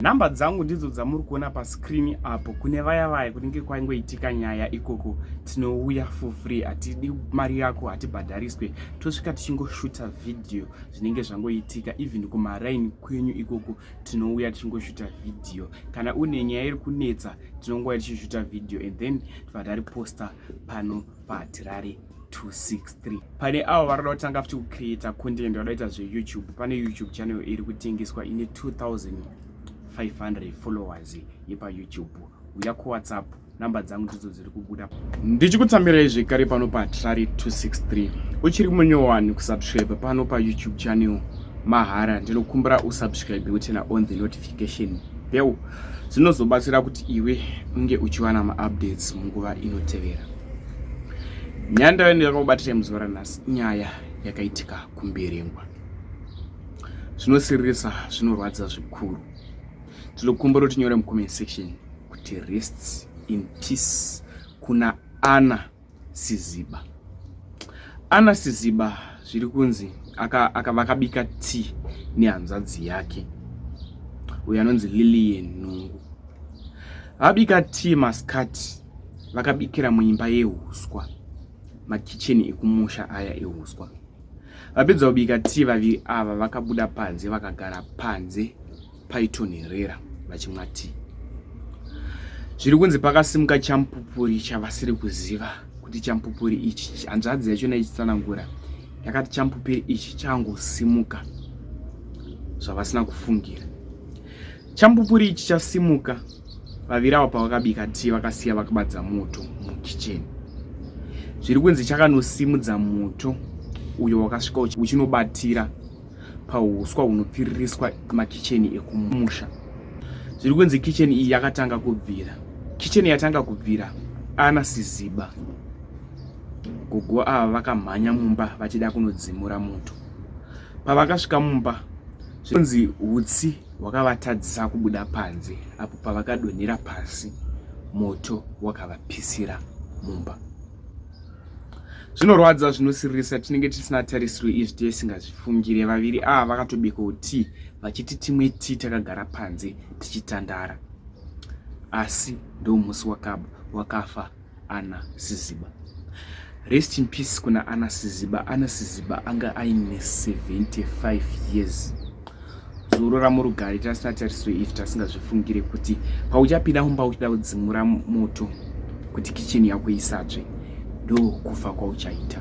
Number dzangu ndidzo dzamuri kuona pa screen apo kune vaya vaya kunenge kwaingoitika nyaya ikoko tinouya for free hatidi mari yako hatibhadhariswe tosvika tichingoshuta video zvinenge zvangoitika even kumaraini kwenyu ikoko tinouya tichingoshuta video kana une nyaya iri kunetsa tinongouya tichishuta video and then tibva tariposta pano patirari 263 pane avo varikuda kutanga futi kucreata content vadaita zveyoutube pane youtube channel iri kutengeswa ine 2500 followers yepayoutube uya kuwhatsapp number dzangu ndidzo dziri kubuda ndichikutsamirai zvekare pano patrari 263 uchiri munyowani kusubscribe pano payoutube channel mahara ndinokumbira usubscribe utena on the notification bell zvinozobatsira kuti iwe unge uchiwana maupdates munguva inotevera nyaya ndaive ndakakubatirei muzuva ranhasi nyaya yakaitika kumberengwa zvinosiririsa zvinorwadza zvikuru tinokumbira kuti nyore mucomment section kuti rests in peace kuna ana siziba ana siziba zviri kunzi aka, aka vakabika tea nehanzvadzi yake uyo anonzi lilian nungu vabika tea masikati vakabikira muimba yehuswa makicheni ekumusha aya ehuswa vapedza kubika tii vaviri ava vakabuda panze vakagara panze paitonherera vachimwa tii zviri kunzi pakasimuka champupuri chavasiri kuziva kuti champupuri ichi hanzvadzi yachona ichitsanangura yakati champupuri ichi changosimuka zvavasina kufungira Chambupuri ichi chasimuka vaviri ava pavakabika tii vakasiya vakabadza moto mukicheni. Zviri kunzi chakanosimudza moto uyo wakasvika uchinobatira pahuswa hunopfiririswa makicheni ekumusha. Zviri kunzi kicheni iyi yakatanga kubvira. Kicheni yatanga kubvira ana Siziba gogo ava vakamhanya mumba vachida kunodzimura moto. Pavakasvika mumba zvinonzi hutsi Wakavatadzisa kubuda panze apo pavakadonhera pasi moto wakavapisira mumba. Zvinorwadza zvinosiririsa tinenge tisina tarisiro izvi tisingazvifungire. Vaviri ava vakatobikawo tii vachiti timwe tii takagara panze tichitandara. Asi ndomusi wakaba wakafa ana siziba rest in peace kuna ana siziba ana siziba anga aine 75 years zorora murugari tasina tarisiro izvi tasingazvifungire kuti pauchapinda mumba uchida kudzimura moto kuti kicheni yako isatsve ndokufa kwauchaita